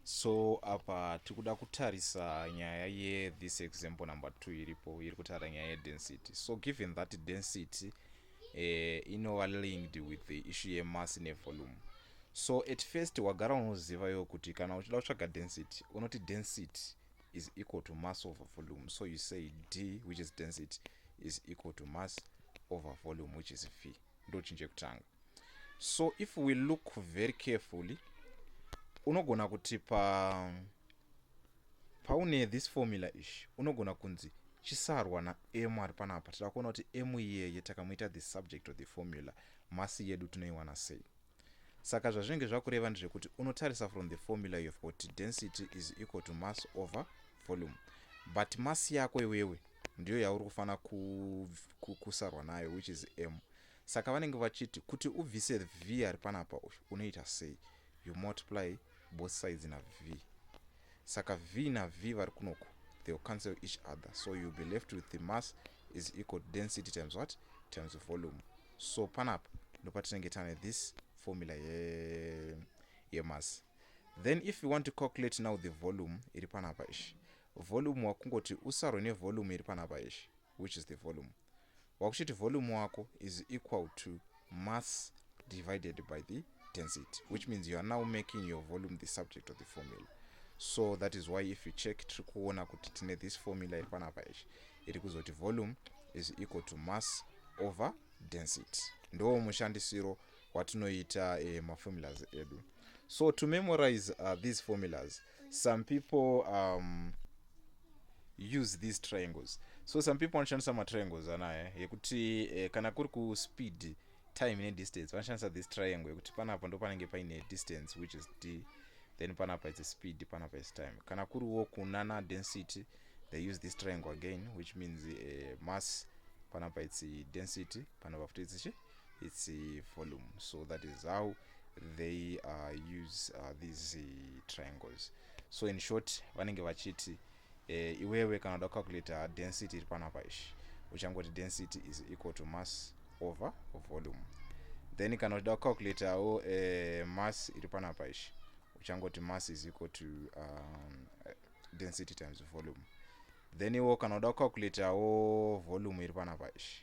so apa tiri kuda kutarisa nyaya yethis example number two iripo iri kutaura nyaya yedensity so given that density eh, inova linked with the issue yemass nevolume so at first wagara unoziva yo kuti kana uchida kutsvaga density unoti density is equal to mass over volume so you say d which is density is equal to mass over volume which is v ndochinje kutanga so if we look very carefully unogona kuti pa paune this formula ish unogona kunzi chisarwa naem ari panapa tida kuona kuti em iyeye takamuita the subject of the formula masi yedu tinoiwana sei saka zvazvinenge zvakureva ndezvekuti unotarisa from the formula yof kuti density is equal to mass over volume but mass yako iwewe ndiyo yauri kufanira kusarwa nayo which is m Saka vanenge vachiti kuti ubvise V ari panapa uyu unoita sei? You multiply both sides na V. Saka V na V vari kunoku they will cancel each other so you'll be left with the mass is equal density times what times volume so panapa ndopatinenge tane this formula ye yemass then if you want to calculate now the volume iri panapa ishi volume wakungoti usarwe nevolume iri panapa ishi which is the volume wakuchiti volume wako is equal to mass divided by the density which means you are now making your volume the subject of the formula so that is why if you check tiri kuona kuti tine this formula iri panapa ichi iri kuzoti volume is equal to mass over density ndo mushandisiro watinoita eh, maformulas edu so to memorize uh, these formulas some people um, use these triangles so some people vanoshandisa matriangles anaya eh, yekuti eh, kana kuri kuspeed time nedistance vanoshandisa this triangle yekuti panapa ndo panenge paine distance which is d then panapa its speed panapa is time kana kuriwo kunana density they use this triangle again which means uh, mass panapa its density panapa futi its its uh, volume so that is how they uh, use uh, these uh, triangles so in short vanenge vachiti uh, iwewe kana uda kucalculata density iri panapa ishi uchangoti density is equal to mass over volume then kana uchida kucalculatawo uh, eh, mass iri panapa ishi uchangoti mass is equal to um, density times volume then iwo kana uda kucalculatawo volume iri panapa ishi